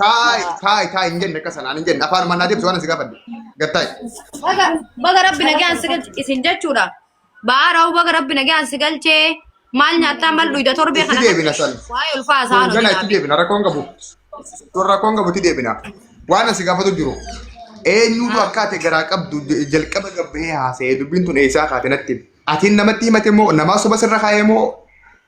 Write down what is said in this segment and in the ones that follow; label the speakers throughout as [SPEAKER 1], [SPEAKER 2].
[SPEAKER 1] Taa'e taa'e taa'e hin jenne akka sanaan hin jenne afaan mannaa deemtu waan si gaafadde gad taa'e. Baga
[SPEAKER 2] baga rabbi nagaan si galche isin jechuudha. Ba'aa raawuu baga rabbi nagaan si galchee maal nyaattaa maal dhuyda torbee Itti kana deebina san. waa'ee ulfaa
[SPEAKER 1] isaa Gana itti
[SPEAKER 2] hojjetaa. deebina rakkoon
[SPEAKER 1] qabu. Sun rakkoon qabu itti deebina. Waan asi gaafatu jiru. Eenyutu akka ati garaa qabdu j- jalqaba gabbee haasa'ee dubbiin tun eessaa kaate natti. himi. Atiin namatti himate moo namaa soba sirra kaa'ee moo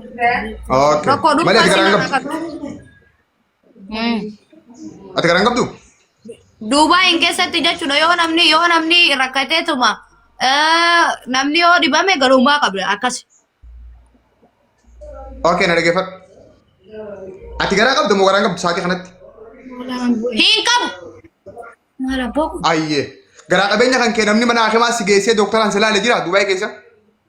[SPEAKER 1] Okay. Tokko dhufaa Malee ati garaan sima qabdu? akka ta'u. Mm. Ati garaan qabdu? Duubaayin
[SPEAKER 2] keessatti jechuudha yoo namni yoo namni rakkateetuma eh, namni yoo dhibame garummaa qabda akkas.
[SPEAKER 1] Okay, na dhaggeeffadhu. Ati garaa qabdu moo garaan qabdu sa'aatii kanatti? Hin
[SPEAKER 2] qabu. Maal
[SPEAKER 3] abboo kun? Ayyee. Garaa
[SPEAKER 1] qabeenya kan kee namni mana hakimaa si geessee dooktaraan si laale jira Dubaay keessa?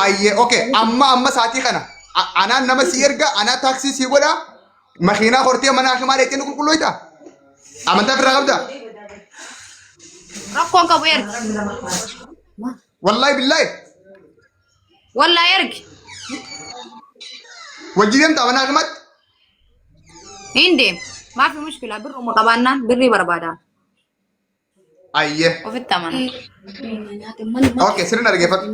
[SPEAKER 1] Ayyee okay amma amma saatii kana a- anaan nama si erga anaa taaksii si godha makiinaa hortee mana hakimaa dheettee nu qulqulloyta amantaa birraa qabda
[SPEAKER 2] Rakkoon qabu ergi.
[SPEAKER 1] wallaahi billaahi
[SPEAKER 2] Wallaa ergi.
[SPEAKER 1] wajjin deemta mana hakimaatti
[SPEAKER 2] Hin deemu. Maafi mushkilaa birruma qabaannaan birrii barbaada.
[SPEAKER 1] Ayyee. Ofitti
[SPEAKER 2] amana.
[SPEAKER 1] Okay, sirri na dhaggeeffadhu.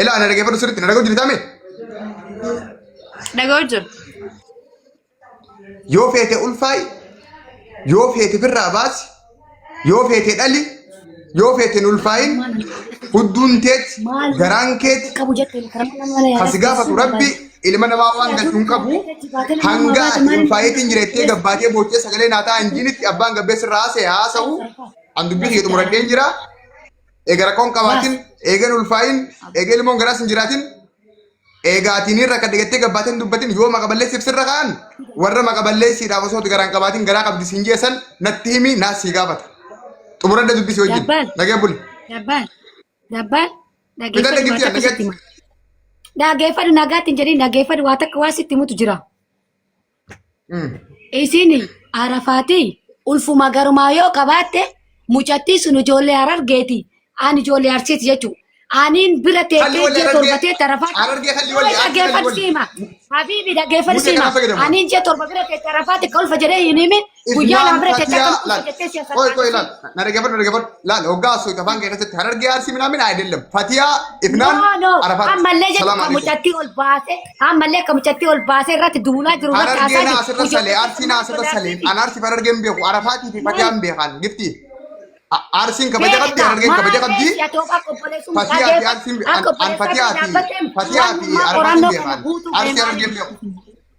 [SPEAKER 1] Ilaa na dhaggeeffadhu sirriitti na dhaga'u jirtaa mee?
[SPEAKER 2] Dhaga'u jiru.
[SPEAKER 1] Yoo feete ulfaa'i, yoo feete firraa baasi, yoo feete dhali, Yoo feeteen ulfaayin hudduun teeti garaan keeti qabu jettee karama nama
[SPEAKER 3] mana yaalaa. Kasi gaafatu rabbi
[SPEAKER 1] ilma namaa waan galchu hin qabu hanga ati ulfaayeetiin jireettee gabbaatee boochee sagalee naataa hin jiinitti abbaan gabbeessi irraa haasa'e haasa'u an dubbii kiyya xumuradheen jira eega rakkoon qabaatin eegan ulfaayin eega ilmoon garaas hin jiraatin Eegaa ati ni rakkadhe jettee gabbaatee hin dubbatin yoo maqa balleessiif sirra ka'an warra maqa balleessiidhaaf osoo garaa hin qabaatin garaa qabdi siin jeessan natti himi naas sii gaafata. Xumuradda dubbisi wajjin. Dabbaan. Nagee buli. Dabbaan.
[SPEAKER 3] Dabbaan. Bita Dhageeffadhu
[SPEAKER 1] dhagifti waan takka sitti nagatti. hima.
[SPEAKER 3] Dhageeffadhu nagaatti hin jedhin dhageeffadhu waa takka waa sitti himutu jira. Isin arafaatee ulfuma garumaa yoo qabaatte mucattii sun ijoollee harargeeti. Ani ijoollee arsiiti jechuudha. Aniin bira Kalli teessee walli ji'a torba arargee. ta'e arafaat. Arargee kalli walli. Arsi kalli Dhageeffadhu walli. siima. Habiibi dhageeffadhu Mucca siima. kanaa fayyadama. Aniin ji'a torba bira teessee arafaat kolfa jedhee hin himin. Guyyaa naa bira teessee akkam kuusa jettee si'a Qoy qoy laal. Na dhaggeeffadhu
[SPEAKER 1] na dhaggeeffadhu. Laal hoggaa osoo itti afaan keessatti harargee arsii minaamin ayidellam. Fatiyaa ifnaan No, no. arafaat. Ammallee jedhu Salaam kan alaikum.
[SPEAKER 3] mucattii ol baase, ammallee kan mucattii ol baase irratti duulaa jiru irratti Harargee haasaa naa jiru. asirra salee
[SPEAKER 1] arsii naa asirra salee. An arsii harargee hin beeku arafaatii fi fatiyaa hin beekan gifti. Arsiin kabaja qabdi harargeen kabaja qabdi. Fatiyaa fi arsiin an fatiyaa fi fatiyaa fi arafaatiin beekan. Arsii harargeen beeku.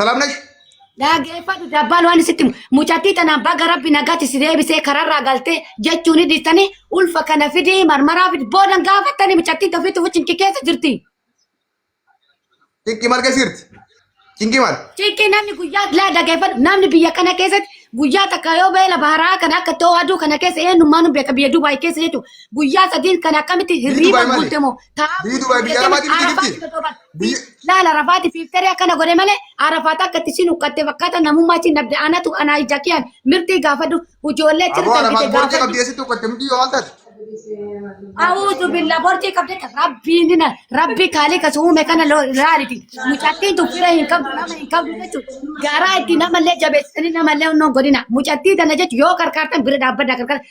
[SPEAKER 1] ሰላም ነሽ? Dhaggeeffadhu
[SPEAKER 3] dabbaan waan isitti himu. Mucattii tanaan baga rabbi nagaatti si deebisee kararraa galtee jechuun ni dhiistanii ulfa kana fidii marmaraa fidii boodan gaafattanii mucattiin tofiitti fuchinki keessa jirti. Cinqii
[SPEAKER 1] maal keessa jirti? Cinqii maal? Ciiqii namni guyyaa
[SPEAKER 3] laa dhaggeeffadhu namni biyya kana keessatti guyyaa takka yoo beela baharaa kana akka ta'u aduu kana keessa eenyummaan beeka biyya Dubaay keessa jechuudha. Guyyaa sadiin kana akkamitti hirriiba Dubaay maali? guutte moo taa'aa Biyyi Dubaay biyya
[SPEAKER 1] Arabaatii miti jirti? Biyya laala rafaati
[SPEAKER 3] fiiftaree akkana godhe malee arafaata akka itti sin huqqatte fakkaata namummaa sin dhabde anatu anaa ija kiyaan mirtii gaafadhu ijoollee aboo tirta arafaat bite borcee gaafadhu.
[SPEAKER 1] qabdee sitti huqqatte mudhii yoo haaltaati.
[SPEAKER 3] A'uuzu billaa borcii qabdee kan rabbiin na rabbii kaalee kan uume kana loo- laaliti mucattiin tun fira hin qabdu nama hin qabdu jechuudha garaa itti namallee jabeessanii namallee onnoo godhina mucattii tana jechuun yoo karkaartan bira dhaabbadha karkaartan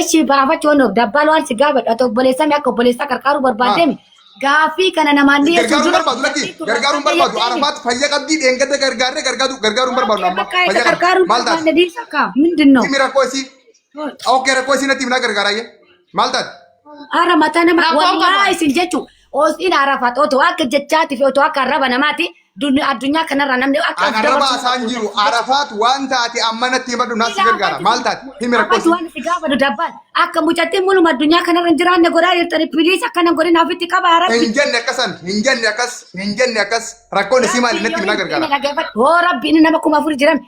[SPEAKER 1] Eshi baafachuu
[SPEAKER 3] nuuf dabbaal waan si gaafadha ati obboleessame akka obboleessaa qarqaaruu barbaaddeemi. Gaaffii kana namaan ni Gargaaruun barbaadu lakki gargaaruun
[SPEAKER 1] barbaadu arafaat fayya qabdii dheengadda gargaarree gargaaruu gargaaruun barbaadu amma fayya qabdi maal taate Mindin noo. himi rakkoo
[SPEAKER 3] isii
[SPEAKER 1] ok rakkoo isii natti himnaa gargaaraayye maal taate Ara mataa
[SPEAKER 3] nama Rakkoon qaba. wallaahi isin jechuun Oostiin arafaat otoo akka jechaati fi otoo akka arraba namaati dun- addunyaa kanarra namni akka An arraba asaan jiru
[SPEAKER 1] arafaat waan taate amma natti himadhu naas si gargaara maal taate himi Abbas rakkoos. waan itti gaafatu dabbaan
[SPEAKER 3] akka mucattiin muluma addunyaa kanarra hin jiraanne godhaa jirtani piliis akkana godhin ofitti qaba rabbi. Hin jenne akkasan hin
[SPEAKER 1] jenne akkas hin jenne akkas rakkoon isii maali natti himi na gargaara. Hoo rabbi inni nama
[SPEAKER 3] kuma afur jiran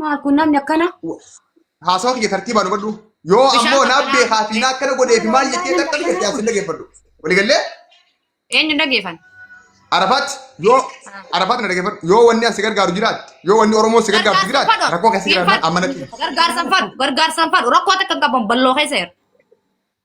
[SPEAKER 2] Maal kun namni akkana?
[SPEAKER 3] Haasawa
[SPEAKER 1] kiyya tartiibaan hubadhu. Yoo Bishaan ammoo naaf qabbanaa'aa beekaa fi naa akkana godhee fi maal jettee takka jettee as hin dhageeffadhu. Waliigallee Eenyu
[SPEAKER 2] hin dhageeffan? Arafaat
[SPEAKER 1] yoo Arafaat na dhageeffadhu. Yoo wanni as si gargaaru jiraate yoo wanni Oromoo si gargaartu jiraate rakkoo keessa jiraatan amma natti. Gargaarsan fadhu, gargaarsan
[SPEAKER 2] fadhu. Rakkoo takka hin qaban balloo keessa jira.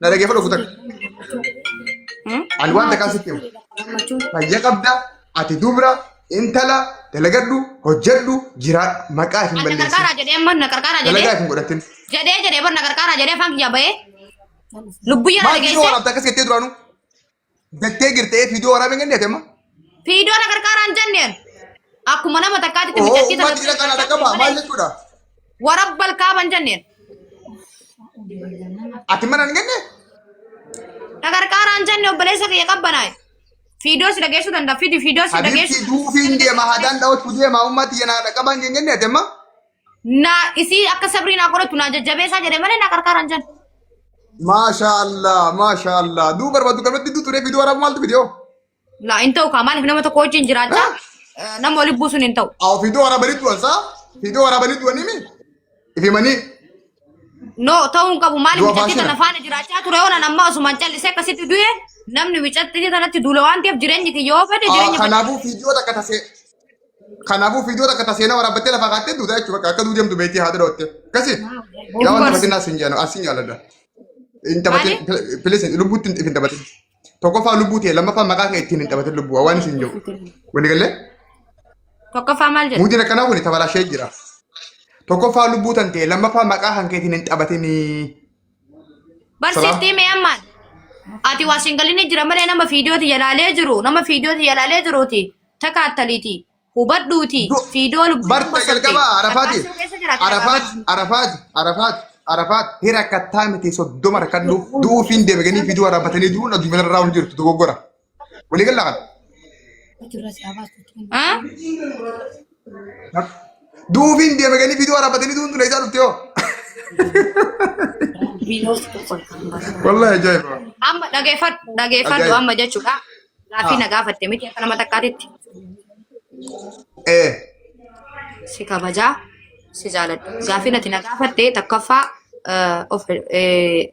[SPEAKER 1] Na dhageeffadhu ofu takka. Hmm? Ani waan takkaa sitti himu. Gammachuu. Fayya qabda, ati dubra, intala, dalagadhu, hojjedhu, jiraadhu. Maqaa hin Ana balleessin. qarqara jedhee amma na qarqara
[SPEAKER 2] Dalagaa jedhee hin godhatin.
[SPEAKER 1] jedhee jedhee bar na
[SPEAKER 2] qarqara jedhee afaan kiyyaa bahee lubbuu yaa Maal biyya dhageesse. waan abdaa
[SPEAKER 1] akkas jettee duraanuu? Jettee jirte ee fiidoo waraabee kan deetema. Fiidoo na
[SPEAKER 2] gargaaraan jenneen. Akkuma nama takkaatti Oo miidhagsiisa uummata jira kana
[SPEAKER 1] dhaqqabaa maal jechuudha? Warabbal
[SPEAKER 2] kaaban jenneen.
[SPEAKER 1] Ati mana hin genne?
[SPEAKER 2] Na gargaaraan jenne obboleessa kiyya qabbanaa'e. Fiidoo si dhageessuu danda'a. Fidi fiidoo si Habiibti dhageessuu. duufiin deema haadaan
[SPEAKER 1] dhawatu deema uummati yana dhaqqabaan jennee deema. Na
[SPEAKER 2] isii akka sabrii naa qoratu naa jajjabeessaa jedhe malee naa qarqaaran jedhe. Maashaallah
[SPEAKER 1] maashaallah duu barbaadu qabatti duu turee fiduu waraabuu maaltu fidee hoo? Laa hin ta'u
[SPEAKER 2] kaa maaliif nama tokko wajjin jiraadha. Nama waliin buusuun hin ta'u. Awo fidoo waraabanii du'an
[SPEAKER 1] saa fidoo waraabanii du'anii mi? Ifimanii
[SPEAKER 2] No ta'uu hin qabu maaliif Du'a micatti faashina. tana faana jiraachaa ture oolan amma osumaan callisee akkasitti du'e namni micatti tanatti duula waan ta'eef jireenyi kiyya yoo fedhe jireenya kanaafuu fidoo takka
[SPEAKER 1] tasee Kanaafuu fiidoo takka ta seenaa waraabbattee lafaa kaattee duuta jechuudha bakka akka duu deemtu beektii haadha dhootte. Akkasii yaa waan taphatin as hin jaanu as hin jaaladha. Hin taphatin pilis lubbuutti hin hin taphatin. Tokkoffaa lubbuu ta'e lammaffaa maqaa kee ittiin hin taphatin lubbuu waan isin jiru. Wani galee
[SPEAKER 2] Tokkoffaa maal jedhu? muudiin akkanaa kun tabalaashee
[SPEAKER 1] jira. Tokkoffaa lubbuu tan ta'e lammaffaa maqaa kan keetiin hin taphatinii. Barsiiftii
[SPEAKER 2] mee ammaan ati waa siin galinni jira malee nama fiidiyooti yalaalee jiru nama fiidiyooti yalaalee jiruuti takaattaliiti hubadhuuti Du- fiidiyoo lubbuu Barta bosotte. jalqaba Arafaati.
[SPEAKER 1] Lakkaa'amtuu keessa jira, kan Arafaati. Arafaati. Arafaati. Arafaati. Arafaati. Hira kattaa miti soddoma rakkadhu. Du'uufiin deebiganii fiduu waraabbatanii du'uun addunyaa irraa hin jirtu dogoggora. Walii galla kana. haa Duubiin deeme galii viidiyoo waraabbatanii duun tun eessaa dhufte hoo? Wallahi ajaa'iba. amma dhageeffadhu
[SPEAKER 2] dhageeffadhu Ajaa'iba. amma jechuudha gaaffii na gaafatte miti akka nama takkaatitti Eh. si kabajaa si jaaladha gaaffii nati na gaafatte takkaffaa eh, of eh,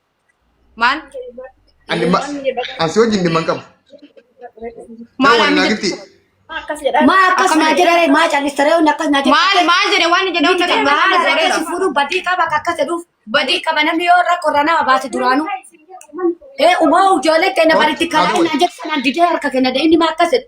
[SPEAKER 3] Maal?
[SPEAKER 2] Ani ma-
[SPEAKER 1] asi wajjin dhimma hin qabu.
[SPEAKER 2] Maal Wal amma naa jirti? gifti.
[SPEAKER 1] Maa
[SPEAKER 4] akkas naa jedhare
[SPEAKER 3] maa callistaree hundi akkas naa Maal maal jedhe waan jedhe hunda
[SPEAKER 2] kan Maal maal akkasii jedheera. fuudhuun
[SPEAKER 3] badii qaba akka akkas jedhuuf badii qaba namni yoo rakkoo irraa nama baase duraanuu. Ee umaa ijoollee keenya baritti kalaa Haa ta'u. naan jedhu sanaan didee harka keenya dee inni maa akkas jedhu.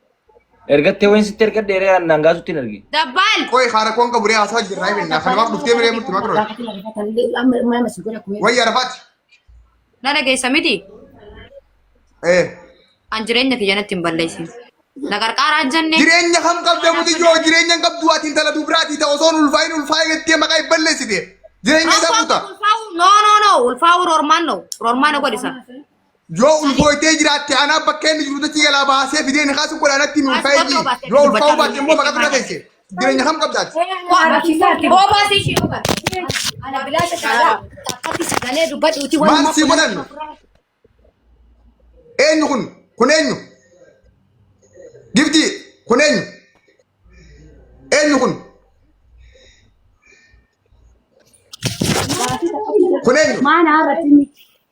[SPEAKER 1] Ergattee
[SPEAKER 5] wayin sitti ergadhe ree annaan gaasutti hin arge. Dabbaal. Qoy haara
[SPEAKER 2] koon qabu ree
[SPEAKER 1] haasaa jirraa hin beekna. Kan waaf dhuftee miree murti makro. Wayya rafaati. Na
[SPEAKER 2] dhageessa miti. Eh. An jireenya kiyya natti hin balleessin. Na qarqaaraan jenne. Jireenya kam qabda muti
[SPEAKER 1] joo jireenya hin qabdu ati intala dubraati ta'u osoo ulfaa'in ulfaa'ee jettee maqaa hin balleessite. Jireenya isaa buuta. Ulfaa'u no no no
[SPEAKER 2] ulfaa'u rormaan no rormaan na godhisa. Yoo
[SPEAKER 1] ulfooytee jiraatte anaa bakka inni jiru dachi jalaa baasee fidee nikaa sun godhaa natti nuun fayyii. Yoo ulfaa'uu baatte immoo maqaa dura teesse. Jireenya kam qabdaati? Obaasi ishee
[SPEAKER 2] obaasi. Ana bilaasha
[SPEAKER 3] taala. Takkatti sagalee dubbadhuuti waan Maal sii godhan?
[SPEAKER 1] Eenyu kun? Kun eenyu? Gifti kun eenyu? Eenyu kun? Kun eenyu? Maana irratti miti.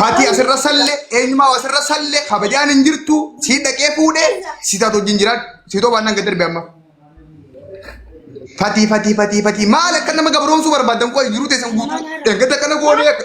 [SPEAKER 1] Fati asirra salle eenyumaa asirra salle kabajaan hin jirtu si dhaqee fuudhe si taatu wajjin jiraadhu si too baannaan gad darbe amma. Fati fati fati fati maal akka nama gabroomsuu barbaadan qoy jiruu teessan guutuu eeggata kana goonee akka.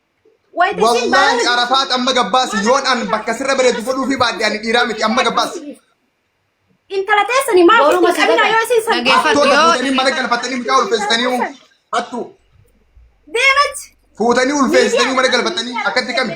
[SPEAKER 4] Wayita isiin Wallaahi baarama Arafaat amma
[SPEAKER 1] gabbaasi yoon an bakka sirra bareedu godhuu fi baadhe ani dhiiraa miti amma gabbaasi. intala
[SPEAKER 4] teessanii maaf Booruma isin qabinaa sadaqaa. yoo isiin
[SPEAKER 3] san
[SPEAKER 4] Dhageeffadhu. Hattoota Yoo- fuutanii mana
[SPEAKER 1] galfatanii mucaa ulfeessitanii hoo? hattuu
[SPEAKER 4] deematti fuutanii
[SPEAKER 1] ulfeessitanii mana galfatanii akkatti kami.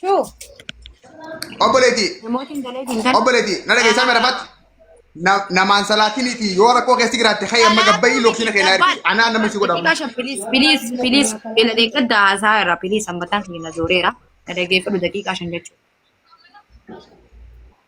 [SPEAKER 2] Shuu.
[SPEAKER 1] Obboleetii. Namooti hin galee
[SPEAKER 2] hin galee. Obboleetii. Na dhageessaa mera
[SPEAKER 1] fatti. Namaan salaatiniiti yoo rakkoo keessi jiraatte ka'e amma gabbayii looksina keenyaa ergi. Anaa nama si godhamu. Xiqqaa shan piliis
[SPEAKER 2] piliis piliis ila deeggadda haasaa irraa piliis hammataan kiyya na zooreera. Na dhageeffadhu daqiiqaa shan jechuudha.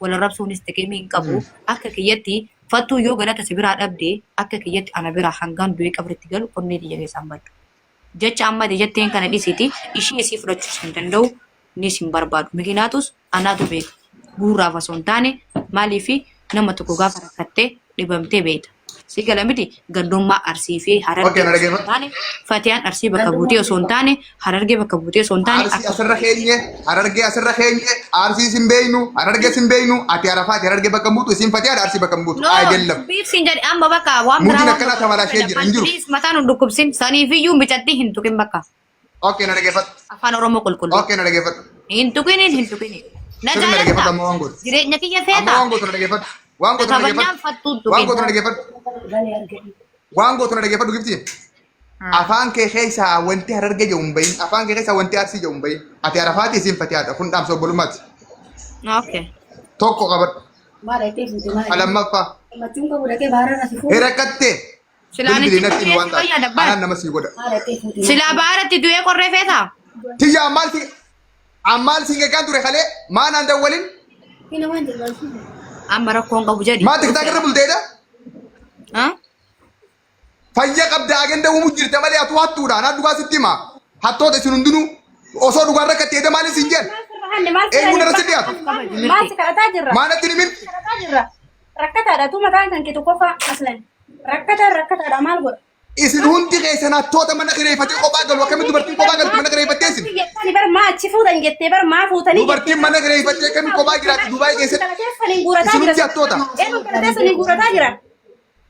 [SPEAKER 2] wal arrabsuunis xiqimii hin qabu. Hmm. Akka kiyyatti fattuu yoo galata si biraa dhabde akka kiyyatti ana biraa hangaan du'ee qabritti galu onnee xiyya keessaan baddu. Jecha amma ati jetteen kana dhisiti ishii isii fudhachuus hin danda'u nis hin barbaadu. Mikinaatus anaatu beeka. Guurraaf osoo hin taane maaliif nama tokko gaafa rakkattee dhibamtee beekta. Si gala miti gandummaa arsii fi harargee Okey, na osoo hin dhaggeeffadhu. taane fatiyaan arsii bakka buutee osoo hin taane harargee bakka buutee osoo hin taane Arsii akka asirra keenye,
[SPEAKER 1] harargee asirra keenye, arsii sin beeynu, harargee sin beeynu, ati arafaati harargee bakka hin buutu, isin fatiyaadha arsii bakka hin buutu. No, Ayedellam. biibsiin jedhe amma bakka
[SPEAKER 2] waan biraa Muudiin waan akkana biraa tamalashee
[SPEAKER 1] jira, hin jiru. Please, mataan hin dhukkubsin
[SPEAKER 2] saniifiyyuu micattii hin tuqin bakka. Okay, na dhaggeeffadhu.
[SPEAKER 1] Afaan Oromoo qulqulluu.
[SPEAKER 2] Okay, na dhaggeeffadhu. Hin
[SPEAKER 1] tuqiniin hin tuqiniin. Na
[SPEAKER 2] Sirri na dhaggeeffadhu amma waan gootu.
[SPEAKER 1] Jireenya kiyya Amma feeta. waan
[SPEAKER 2] gootu na dhaggeeffadhu.
[SPEAKER 1] Waan gootu na Kabajaan dhaggeeffadhu. fattuun tuqin. Waan gootu na dhaggeeffadhu. Waan gootu na dhaggeeffadhu gifti. Afaan kee keessaa wanti hararge jedhu hin bahin. Afaan kee keessaa wanti arsii jedhu hin bahin. Ati arafaati isin fatiyaadha. Kun dhaamsa obbolummaati.
[SPEAKER 2] Okay. Tokko
[SPEAKER 1] qabadhu. Lammaffaa. Hirakattee. Silaa Bilbili natti
[SPEAKER 2] natti himi waan taate.
[SPEAKER 1] fayyada Anaan bar. nama sii godha. Silaa baaratti
[SPEAKER 2] du'ee qorree feeta. Tiyya ammaal si
[SPEAKER 1] ammaal siin eegaan ture kalee maa naan dawwalin Amma
[SPEAKER 2] rakkoon qabu jedhi. maa tiktaak irra bulteedha.
[SPEAKER 1] Ha? Fayya qabda agenda uumuu jirta malee atuu hattuudha. Anaa dhugaa sitti hima. Hattoota isin hundinuu osoo dhugaan rakkatti eeda maaliin siin jedhan? Eenyuun irratti dhiyaatu? Maal si kadhataa
[SPEAKER 4] jirra? Maa natti hin himin? Kadhataa
[SPEAKER 1] jirra.
[SPEAKER 4] Rakkataadha tu mataan kan kee tokkoffaa aslan. Rakkataan rakkataadha maal godha? Isin hundi
[SPEAKER 1] keessan hattoota mana kireeffatee kophaa galu akkamitti dubartiin kophaa galti mana kireeffattee isin. Jettani bar maa achi
[SPEAKER 4] fuudhan jettee bar maa fuutanii Dubartiin mana kireeffattee
[SPEAKER 1] akkamitti kophaa jiraatti Dubaay keessatti. Isin hundi hattoota. Eenyu galateessan hin
[SPEAKER 4] guurataa jira.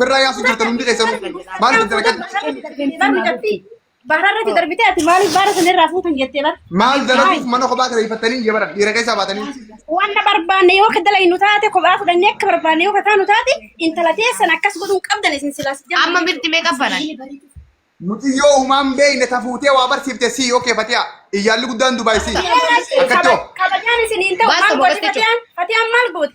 [SPEAKER 1] Birraa yaasu jirtan hundi keessanuu. Maal itti dalagan? Baara irratti
[SPEAKER 4] darbitee ati maaliif baara sana irraa fuutan jettee bar. Maal dalaguuf mana
[SPEAKER 1] kophaa kireeffattanii iyya baran dhiira keessaa baatanii. Wanta barbaanne
[SPEAKER 4] yoo ka dalaynu taate kophaa fudhannee akka barbaanne yoo ka taanu taate intala teessan akkas godhuun qabdan isin silaas jedhu. Amma mirti meeqa banan?
[SPEAKER 2] Muxiyyoo
[SPEAKER 1] uumaan beeyne tafuutee waa barsiifte sii yoo keefatiyaa. Iyyaalli guddaan Dubaay sii. Akkatti hoo. Kabajaan isin hin ta'u Baasa
[SPEAKER 4] maal gooti boqotte Fatiyaan? Fatiyaan maal gooti?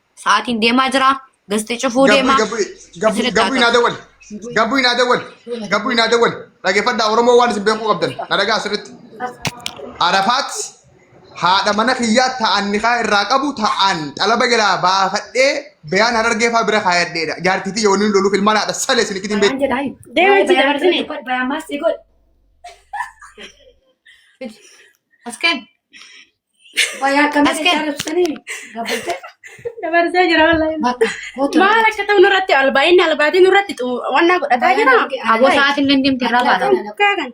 [SPEAKER 2] Sa'aatiin deemaa jira. Gasti cufuu Gabbu deema. gabbu gabbu Asirratti gabbu haa
[SPEAKER 1] naa dawwal. Gabbu naa dawwal. Gabbu naa dawwal. Dhaggeeffadhaa Oromoo waan isin beekuu qabdan. Na dhagaa sirriitti. Arafaat haadha mana kiyyaa ta'an nikaa irraa qabu ta'an xalaba jalaa baafadhee bayaan harargee fa'aa bira kaayadheedha. Jaartiitii yoo inni loluuf ilmaan haadha salee isin itti hin beeku. Deema
[SPEAKER 4] itti
[SPEAKER 2] dabartine. As kenn. Baay'ee akkamii Askee. jechaa jirtanii
[SPEAKER 4] gabbate. Dabarsee jira wallahi. Bakka kootu Maal akka ta'u nurratti albaa'inni albaatiin nurratti xu- wannaa godhataa
[SPEAKER 2] jira. Aboo
[SPEAKER 4] sa'aatiin illee deemtee
[SPEAKER 2] irraa baata.
[SPEAKER 4] Kan-
[SPEAKER 2] kan-